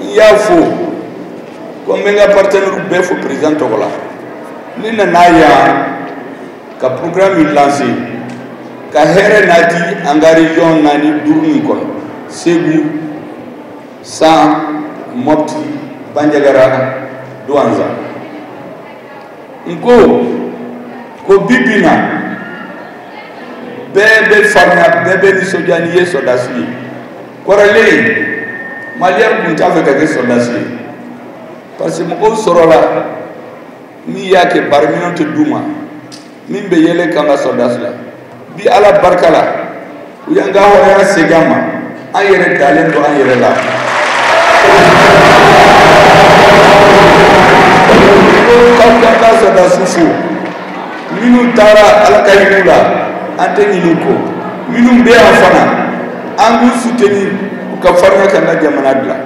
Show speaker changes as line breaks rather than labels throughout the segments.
n y'a fɔ ko n bɛ n ka partenaire bɛɛ fo président tɔgɔ la ne nana yan ka programme in lancer ka hɛrɛ nati an ka région naani duuru nin kɔnɔ segu san mɔpti banjagara duwanza n ko ko bi bi na bɛɛ bɛ farinya bɛɛ bɛ nisɔndiya n'i ye sɔrɔdasi ye kɔrɔlen maliyɛn tun t'a fɛ ka kɛ sɔrɔdasi ye parce que mɔgɔw sɔrɔla min y'a kɛ baaraminɛn tɛ d'u ma min bɛ yɛlɛ k'an ka sɔrɔdasi la bi ala barika la u y'an ka hɔrɔnya segin an ma an yɛrɛ dalen don an yɛrɛ la k'aw k'an ka sɔrɔdasiw fo minnu taara ala ka hin'u la an tɛ ɲin'u kɔ minnu bɛ yan fana an b'u suteni u ka farinya k'an ka jamana dilan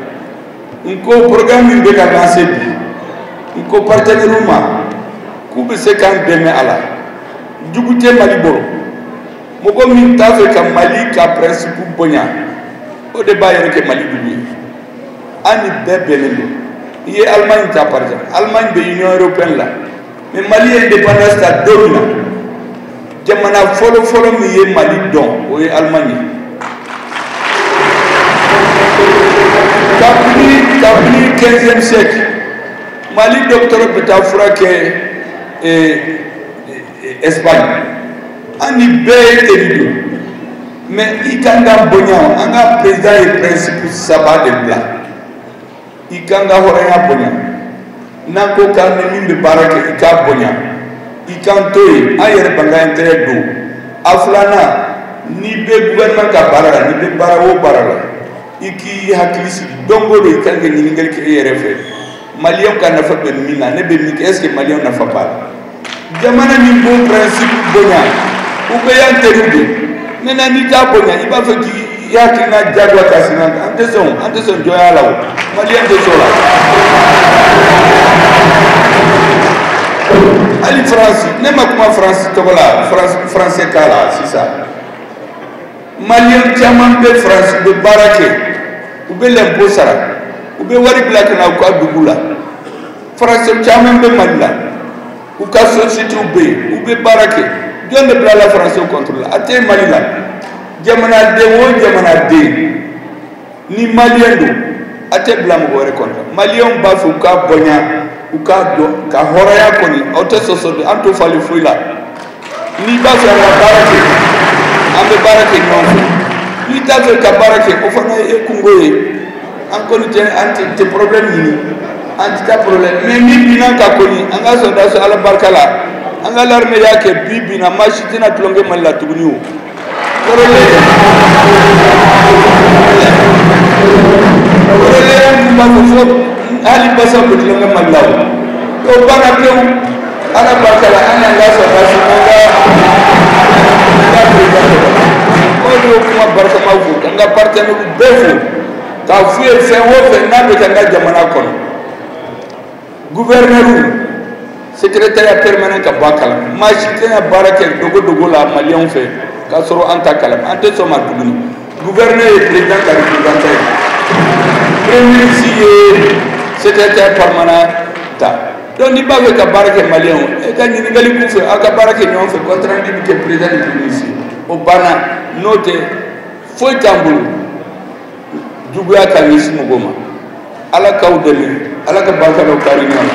n ko programme min bɛ ka lanse bi n ko partenɛriw ma k'u bɛ se k'an dɛmɛ a la jugu tɛ mali bolo mɔgɔ min t'a fɛ ka mali ka pɛrɛnsipu bonya o de b'a yɛrɛ kɛ mali jugu ye an ni bɛɛ bɛnnen don i ye alimaɲi ta par exemple alimaɲi bɛ union européenne la mɛ mali ye indépendance ta don min na jamana fɔlɔfɔlɔ min ye mali dɔn o ye allemagne kabini kabini 15e siècle mali docteur bɛ taa fura kɛ eh, eh, espagne an ni bɛɛ ye teri don mɛ i k'an ka bonya an ka président ye principe saba de bila i k'an ka hɔrɔnya bonya n'an ko k'an ni min bɛ baara kɛ i k'a bonya i k'an to yen an yɛrɛ b'an ka intérêt dɔn a filanan n'i bɛ gouvernement ka baara la n'i bɛ baara o baara la i k'i hakili sigi don o don i kan ka ɲininkali kɛ i yɛrɛ fɛ maliyɛnw ka nafa bɛ min na ne bɛ min kɛ est ce que maliyɛnw nafa b'a la jamana min b'o pɛrɛnsipu bonya u bɛɛ y'an teriw de maintenant n'i t'a bonya i b'a fɛ k'i hakilina diyagoya k'a sigi an na an tɛ sɔn an tɛ sɔn jɔnya la o maliyɛn tɛ sɔn o la hali faransi ne ma kuma faransi tɔgɔ la faransɛ k'a la sisan maliyɛn caman bɛ faransi u bɛ baara kɛ u bɛ lɛnpo sara u bɛ wari bila ka na u ka dugu la faransɛw caman bɛ mali la u ka sosiyetew bɛ yen u bɛ baara kɛ jɔn de bilala faransɛw kɔntiri la a tɛ mali la jamanaden o jamanaden ni maliyɛn don a tɛ bila mɔgɔ wɛrɛ kɔntiri maliyɛnw b'a fɛ u k'a bonya u k'a dɔn k'a hɔrɔnya kɔni o tɛ sɔsɔ dɛ an t'o falen foyi la n'i b'a fɛ ka baara kɛ an bɛ baara kɛ ɲɔgɔn fɛ n'i t'a fɛ ka baara kɛ o fana y'i kungo ye an kɔni an tɛ problème ɲini an tɛ taa problème mais min binna an kan kɔni an ka sɔrɔdasiw ala barika la an ka l'armée y'a kɛ bi bi in na maa si tɛna tulonkɛ mali la tuguni o hali basa bɛ tulonkɛ mali la o o banna pewu ala barika la an y'an ka sɔrɔdasi an ka an ka perezidan sɔrɔ o de y'o kuma barikama fɔ k'an ka partenaires bɛɛ fo k'a f'u ye fɛn o fɛn n'a bɛ kɛ an ka jamana kɔnɔ guvɛrinɛriw sekretariya permanent ka bɔ a kalama maa si tɛna baara kɛ dogo dogo la maliyɛnw fɛ k'a sɔrɔ an t'a kalama an tɛ sɔn a ma tuguni guvɛrinɛri ye prezidan ka reprezantan ye premier ministre ye sekretariya permanent ta donc n'i b'a fɛ ka baara kɛ maliyɛnw ye ka ɲininkali k'u fɛ aw ka baara kɛ ɲɔgɔn fɛ compte rendu bɛ kɛ prezidan ni premier ministre o banna n'o tɛ foyi t'an bolo juguya ka ɲɛsin mɔgɔ ma ala k'aw dɛmɛ ala ka barika don kari ɲɔgɔn na